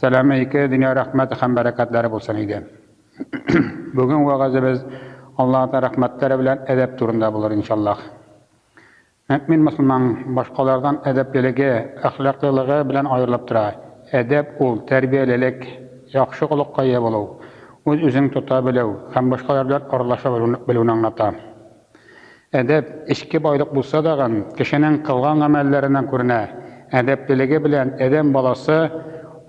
Сәләме ике дөнья рәхмәте һәм бәрәкәтләре булсын иде. Бүген вәгазебез Аллаһтан рәхмәтләре белән әдәп турында булыр, иншаллаһ. Мөэмин мөселман башкалардан әдәплелеге, әхлаклылыгы белән аерылып тора. Әдәп ул, тәрбиялелек, яхшы холыкка ия булу, үз-үзең тота белү һәм башкалар белән аралаша белүне аңлата. Әдәп, эчке байлык булса дагын, кешенең кылган гамәлләреннән күренә. Әдәплелеге белән адәм баласы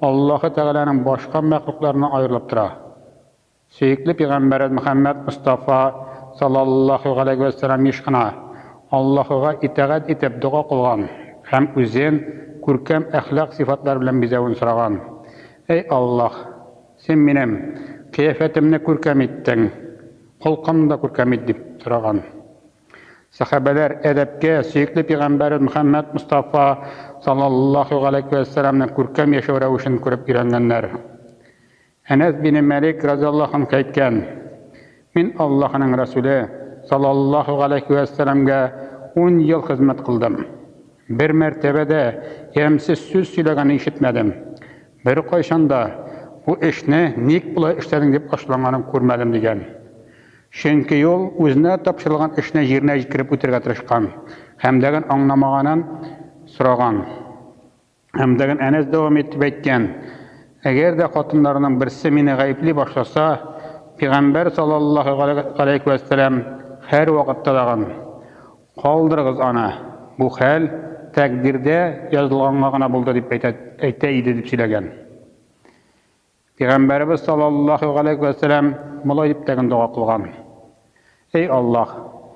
Аллаһы Тәгаләнең башка мәхлукларыннан аерылып тора. Сөекле пигамбәребез Мөхәммәд Мостафа салаллаһу галәйһи вә сәлам еш кына Аллаһыга итагать итеп дога кылган һәм үзен күркәм әхлак сыйфатлары белән бизәвен сораган, Әй Аллаһ! Син минем кыяфәтемне күркәм иттең, холкымны да күркәм ит, дип сораган. Сәхабәләр әдәпкә, сөекле пигамбәребез Мөхәммәд Мостафа саллаллаһу галәйһи вә сәламнең күркәм яшәү рәвешен күреп өйрәнгәннәр. Әнәс бине Мәлик разыяллаһу анһу әйткән, Мин Аллаһының Рәсүле саллаллаһу галәйһи вә сәламгә ун ел хезмәт кылдым. Бер мәртәбә дә ямьсез сүз сөйләгәнен ишетмәдем. Беркайчан да бу эшне ник болай эшләдең дип ачуланганын күрмәдем, дигән. Чөнки ул үзенә тапшырылган эшне җиренә җиткереп үтәргә тырышкан, Хәмдәган аңламаганын сораган. Хәмдәган Әнәс дәвам итеп әйткән, Әгәр дә хатыннарның берсе мине гаепли башласа, пигамбәр салаллаһу галәйһи вә сәлам һәрвакытта даган, Калдырыгыз аны, бу хәл тәкъдирдә язылганга гына булды дип әйтә иде дип сөйләгән. Пигамбәребез саллаллаһу галәйһи вә сәлам болай дип тәген дога кылган, Эй Аллаһ,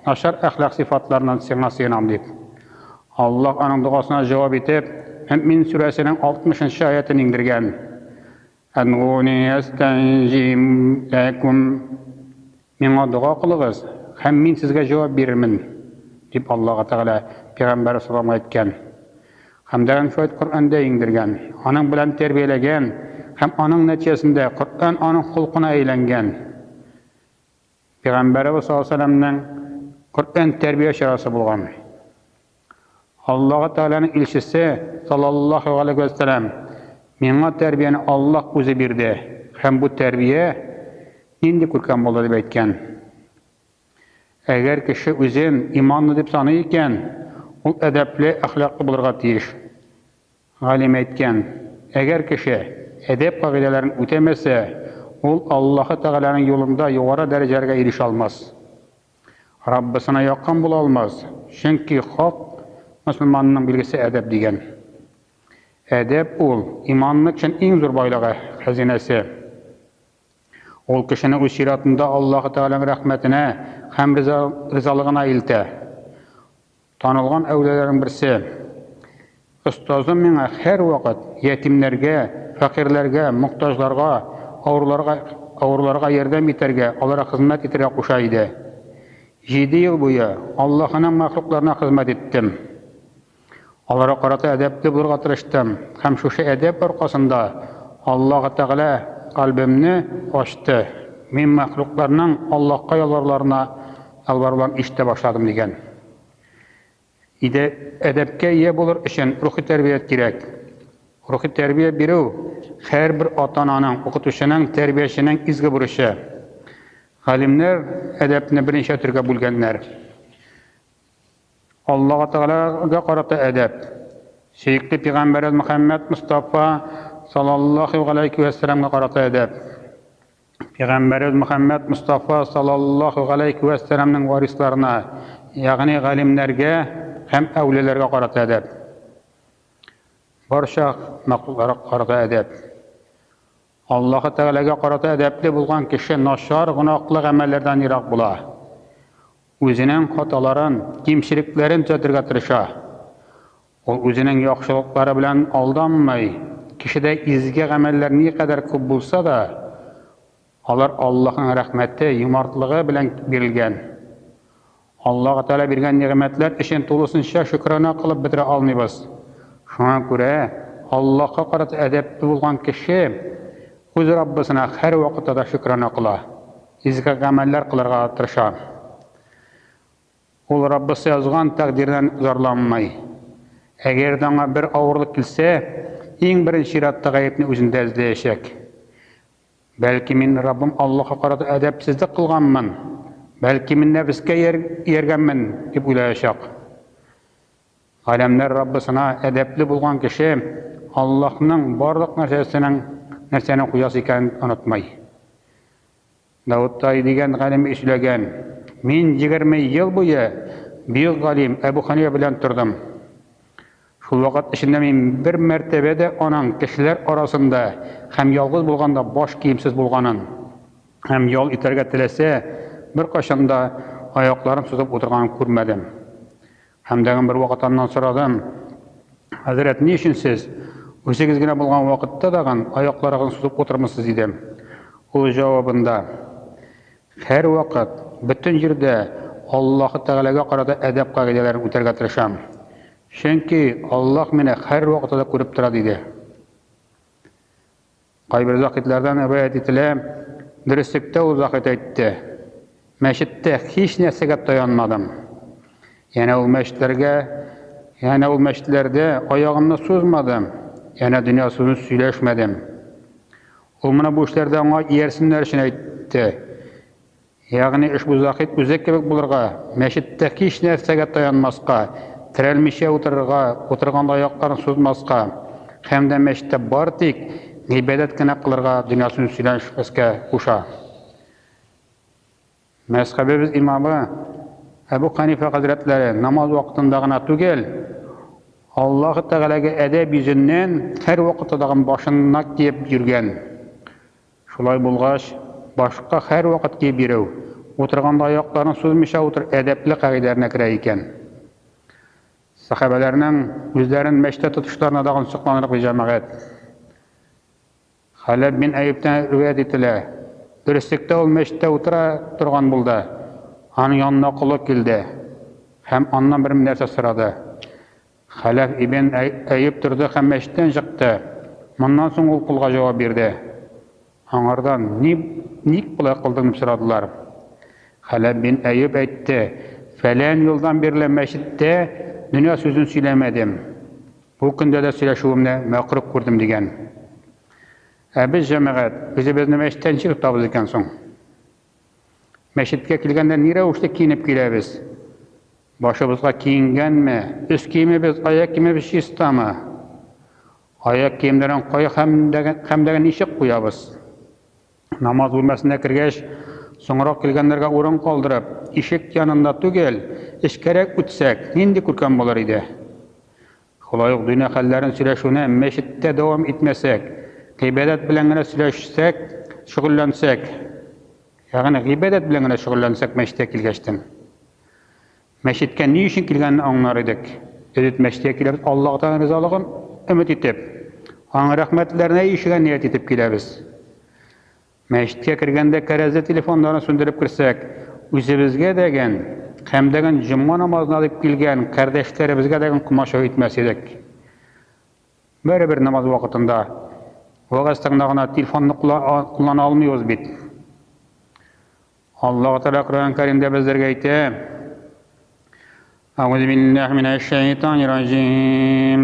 начар әхлак сыйфатларыннан Сиңа сыенам дип. Аллаһ аның догасына җавап итеп, Мөэмин сүрәсенең алтмышынчы аятен иңдергән, Әдгуни әстәҗиб ләкүм. Миңа дога кылыгыз, һәм мин сезгә җавап бирермен, дип Аллаһы Тәгалә пигамбәре саламга әйткән. Хәмдәгән шулай Коръәндә иңдергән, аның белән тәрбияләгән һәм аның нәтиҗәсендә Коръән аның холкына әйләнгән. Пигамбәребез саллаллаһу галәйһи ва сәлләмнең Коръән тәрбия чарасы булган. Аллаһы Тәгаләнең илчесе, салаллаһу галәйһи вә сәлам, Миңа тәрбияне Аллаһ үзе бирде һәм бу тәрбия нинди күркәм булды дип әйткән. Әгәр кеше үзен иманлы дип саный икән, ул әдәпле, әхлаклы булырга тиеш. Галим әйткән, Әгәр кеше әдәп кагыйдәләрен үтәмәсә, ул Аллаһы Тәгаләнең юлында югары дәрәҗәләргә ирешә алмас. Раббысына якын була алмас, чөнки хак мөселманның билгесе әдәп дигән. Әдәп ул, иманлы кешенең иң зур байлыгы, хәзинәсе. Ул кешене үз чиратында Аллаһы Тәгаләнең рәхмәтенә һәм ризалыгына илтә. Танылган әүлияләрнең берсе. Остазым миңа һәрвакыт ятимнәргә, фәкыйрьләргә, мохтаҗларга, авыруларга авыруларга ярдәм итәргә, аларга хезмәт итәргә куша иде. Җиде ел буе Аллаһының мәхлукларына хезмәт иттем. Аларга карата әдәпле булырга тырыштым һәм шушы әдәп аркасында Аллаһ Тәгалә кальбемне ачты, мин мәхлукларның Аллаһка ялваруларына Албарлам ишетә башладым дигән иде. Әдәпкә ия булыр өчен рухи тәрбия кирәк. Рухи тәрбия бирү, һәрбер ата-ананың, укытучының, тәрбияченең изге бурычы. Галимнәр әдәпне берничә төргә бүлгәннәр. Аллага Тәгаләгә карата әдәп. Сөекле пигамбәребез Мөхәммәд Мостафа салаллаһу галәйһи вә сәламгә карата әдәп. Пәйгамбәребез Мөхәммәд Мостафа саллаллаһу галәйһи вә сәламнең варисларына, ягъни галимнәргә һәм әүлияләргә карата әдәп. Барча мәхлукларга карата әдәп. Аллаһы Тәгаләгә карата әдәпле булган кеше начар гөнаһлы гамәлләрдән ерак була. Үзенең хаталарын, кимчелекләрен төзәтергә тырыша. Ул үзенең яхшылыклары белән алданмый. Кешедә изге гамәлләр никадәр күп булса да, алар Аллаһның рәхмәте, юмартлыгы белән бирелгән. Аллаһы Тәгалә биргән нигъмәтләр өчен тулысынча шөкранә кылып бетерә алмыйбыз. Шуңа күрә Аллаһка карата әдәпле булган кеше үз Раббысына һәрвакытта да шөкранә кыла, изге гамәлләр кылырга тырыша. Ул Раббысы язган тәкъдирдән зарланмый. Әгәр дә аңа бер авырлык килсә, иң беренче чиратта гаепне үзендә эзләячәк. Бәлки мин Раббым Аллаһка карата әдәпсезлек кылганмын, бәлки мин нәфескә ияргәнмен, дип уйлаячак. Галәмнәр Раббысына әдәпле булган кеше Аллаһның барлык нәрсәсенең нәрсәне куясы икәнен онытмый. Давыттай дигән галим эшләгән. Мин егерме ел буе бөек галим Әбү Хәнифә белән тордым. Шул вакыт эчендә мин бер мәртәбә дә аның кешеләр арасында һәм ялгыз булганда баш киемсез булганын һәм ял итәргә теләсә, беркайчан да аякларын сузып утырганын күрмәдем. Һәм тагын бер вакыт аннан сорадым, Хәзрәт, ни өчен сез үзегез генә булган вакытта тагын аякларыгызны сузып утырмысыз? дидем. Ул җавабында, Һәрвакыт, бөтен җирдә Аллаһы Тәгаләгә карата әдәп кагыйдәләрен үтәргә тырышам. Чөнки Аллаһ мине һәрвакытта да күреп тора, диде. Кайбер заһидләрдән риваять ителә, Дөреслектә ул заһид әйтте, Мәчеттә һичнәрсәгә таянмадым. Янә ул мәчетләргә, янә ул мәчетләрдә аягымны сузмадым, янә дөнья сүзен сөйләшмәдем. Ул моны бу эшләрдә аңа иярсеннәр өчен әйтте, Ягъни ошбу Заһид үзе кебек булырга, мәчеттә һич нәрсәгә таянмаска, терәлмичә утырырга, утырганда аякларын сузмаска һәм дә мәчеттә бары тик гыйбадәт кенә кылырга, дөньясын сөйләшмәскә куша. Мәзхәбебез имамы Әбү Хәнифә хәзрәтләре намаз вакытында гына түгел, Аллаһы Тәгаләгә әдәп йөзеннән һәрвакытта тагын башына киеп йөргән. Шулай булгач, башка һәрвакыт киеп йөрү, утырганда аякларын сузмыйча утыр әдәпле кагыйдәләренә керә икән. Сәхабәләрнең үзләрен мәчеттә тотышларына да онсыкланырлык, ди җәмәгать. Халәб бин Әюптән риваять ителә, Дөреслектә ул мәчеттә утыра торган булды, аның янына колы килде һәм аннан бер нәрсә сорады. Хәләф ибн Әюп торды һәм мәчеттән чыкты. Моннан соң ул колга җавап бирде. Аңардан, Ни, ник болай кылдың? дип сорадылар. Хәләф бин Әюп әйтте, Фәлән елдан бирле мәчеттә дөнья сүзен сөйләмәдем. Бу көндә дә сөйләшүемне мәкруһ күрдем, дигән. Ә без, җәмәгать, үзебезне мәчеттән ничек тотабыз икән соң? Мәчеткә килгәндә ни рәвешле киенеп киләбез? Башыбызга киенгәнме? Өс киемебез, аяк киемебез чистамы? Аяк киемнәрен кая һәм дә ничек куябыз? Намаз бүлмәсенә кергәч, соңрак килгәннәргә урын калдырып, ишек янында түгел, эчкәрәк үтсәк, нинди күркәм булыр иде? Шулай ук дөнья хәлләрен сөйләшүне мәчеттә дәвам итмәсәк, гыйбадәт белән генә сөйләшсәк, шөгыльләнсәк, ягъни гыйбадәт белән генә шөгыльләнсәк мәчеткә килгәчтен, мәчеткә ни өчен килгәнен аңлар идек. Элет мәчеткә киләбез Аллаһтан ризалыгын өмет итеп, аның рәхмәтләренә ирешергә ният итеп киләбез. Мәчеткә кергәндә кәрәзле телефоннарны сүндереп керсәк, үзебезгә дәгән һәм дәгән җомга намазына дип килгән кардәшләребезгә дәгән комачау итмәс идек. Барыбер намаз вакытында, вәгазь тыңлана гына телефонны куллана алмыйбыз бит. Аллаһ Тәгалә Коръән Кәримдә безләргә әйтә, Әгузубиллаһи минәшшәйтанирраҗим.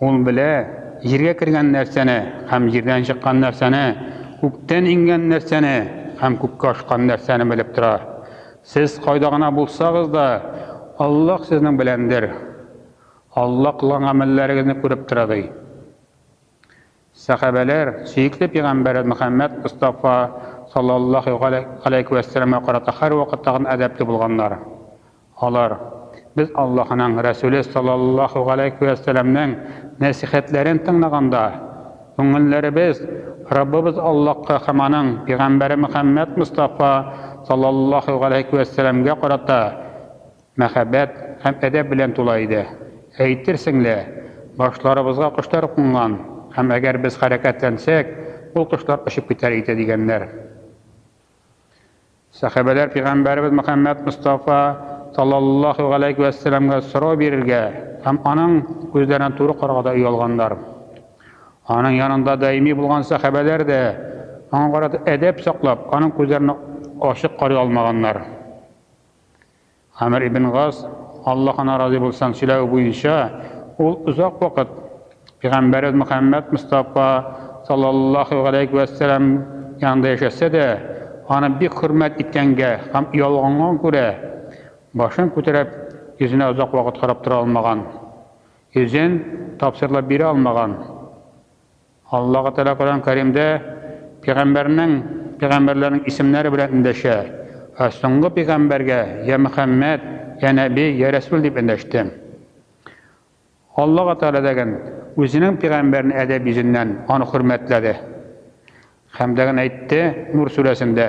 Ул белә, җиргә кергән нәрсәне һәм җирдән чыккан нәрсәне, күктән иңгән нәрсәне һәм күккә очкан нәрсәне белеп тора. Сез кайда гына булсагыз да, Аллаһ сезнең беләндер. Аллаһ кылган гамәлләрегезне күреп тора, ди. Сәхабәләр, сөекле пигамбәр Мөхәммәд Мостафа саллаллаһу галәйһи вә сәлләмгә карата һәрвакытта гына әдәпле булганнар. Алар, Без Аллаһының Рәсүле саллаллаһу галәйһи вә сәлләмнең нәсыйхәтләрен тыңлаганда, күңелләребез Раббыбыз Аллаһка һәм Аның пигамбәре Мөхәммәд Мостафа саллаллаһу галәйһи вә сәлләмгә карата Мәхәббәт һәм әдәп белән тула иде. Әйтерсең лә, башларыбызга кошлар кунган һәм әгәр без хәрәкәтләнсәк, ул кошлар очып китәр иде, дигәннәр. Сәхабәләр пигамбәребез Мөхәммәд Мостафа, салләллаһу галәйһи вә сәләмгә сорау бирергә һәм аның күзләренә туры карарга да оялганнар. Аның янында даими булган сәхабәләр дә, аңа карата әдәп саклап, аның күзләренә ачык карый алмаганнар. Гамер ибн Гас, Аллаһ аннан разый булсын, сөйләве буенча, ул озак вакыт пигамбәребез Мөхәммәд Мостафа салләллаһу галәйһи вә сәлам янында яшәсә дә, аны бик хөрмәт иткәнгә һәм оялганга күрә, башын күтәреп, йөзенә озак вакыт карап тора алмаган, йөзен тапсырылып бирә алмаган. Аллаһы Тәгалә Коръән Кәримдә пигамбәрнең, пигамбәрләрнең исемнәре белән эндәшә, Ә соңгы пигамбәргә, Йә Мөхәммәд, йә Нәби, йә Рәсүл дип эндәштем. Аллаһы Тәгалә дәген Үзенең пигамбәрен әдәп йөзеннән аны хөрмәтләде. Хәм дәген әйтте, Нур сүрәсендә,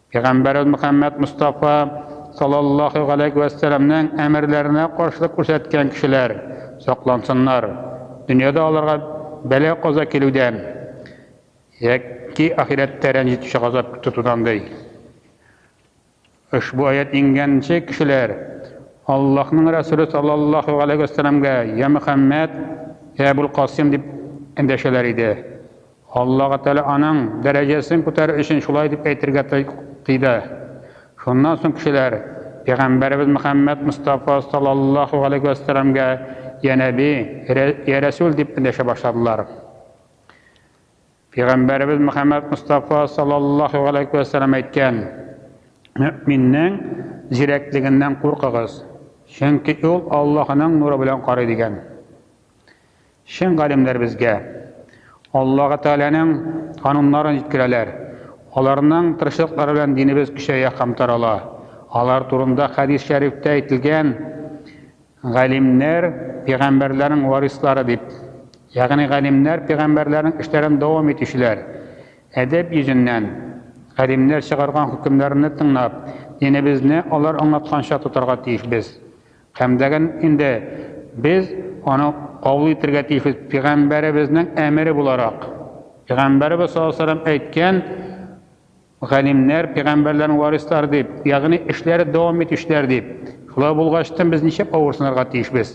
Пәйгамбәрбез Мөхәммәд Мостафа салаллаһу галәйһи вә сәламнең әмерләренә каршылык күрсәткән кешеләр саклансыннар, дөньяда аларга бәла-каза килүдән яки ахирәттә рәнҗетүче газап тотудан, ди. Ошбу аять иңгәнче кешеләр Аллаһның Рәсүле салаллаһу галәйһи вә сәламгә, Йә Мөхәммәд, йә Әбүл Касыйм дип эндәшәләр иде. Аллаһы Тәгалә аның дәрәҗәсен күтәрер өчен шулай дип әйтергә тыйды. Шуннан соң кешеләр пәйгамбәребез Мөхәммәд Мостафа салаллаһу галәйһи вә сәламгә Йә Нәби, Йә Рәсүл дип эндәшә башладылар. Пәйгамбәребез Мөхәммәд Мостафа салаллаһу галәйһи вә сәлам әйткән, Мөэминнең зирәклегеннән куркыгыз, чөнки ул Аллаһының нуры белән карый, дигән. Чын галимнәр безгә Аллаһы Тәгаләнең кануннарын җиткерәләр, аларның тырышлыклары белән динебез көчәя һәм тарала. Алар турында хәдис шәрифтә әйтелгән, Галимнәр, пигамбәрләрнең варислары, дип. Ягъни галимнәр, пигамбәрләрнең эшләрен дәвам итүчеләр. Әдәп йөзеннән, галимнәр чыгарган хөкемнәрне тыңлап, динебезне алар аңлатканча тотарга тиешбез. Кәмдәген инде без аны кабул итәргә тиешбез пигамбәребезнең әмере буларак. Пигамбәребез саллаллаһу алейһи ва сәлләм әйткән, Галимнәр пигамбәрләрнең варислары дип, ягъни эшләре дәвам итүчеләр дип. Шулай булгачтын без ничек авырсынырга тиешбез?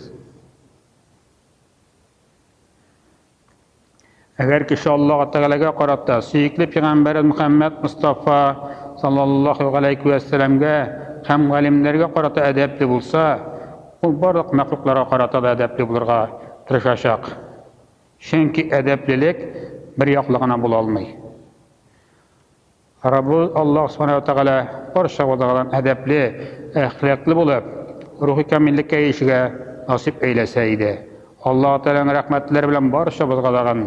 Әгәр кеше Аллаһ Тәгаләгә карата, сөекле пигамбәре Мөхәммәд Мостафа саллаллаһу галәйһи вә сәламгә һәм галимнәргә карата әдәпле булса, ул барлык мәхлукларга карата да әдәпле булырга тырышачак. Чөнки әдәплелек бер яклы гына була алмый. Раббыбыз Аллаһ Субхана ва Тәгалә бар чагыбыздагадан әдәпле, әхлаклы булып, рухи камиллеккә ирешергә насыйп әйләсә иде. Аллаһ Тәгаләнең рәхмәтләре белән барчабызгадагын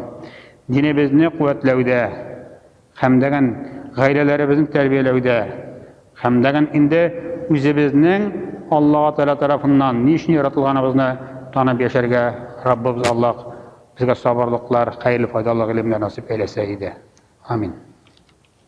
динебезне куәтләүдә хәмдәгән гаиләләребезне тәрбияләүдә хәмдәгән инде үзебезнең Аллаһ Тәгалә тарафыннан ни өчен яратылганыбызны танып яшәргә Раббыбыз Аллаһ безгә сабырлыклар, хәерле файдалы гыйлемнәр насыйп әйләсә иде. Амин.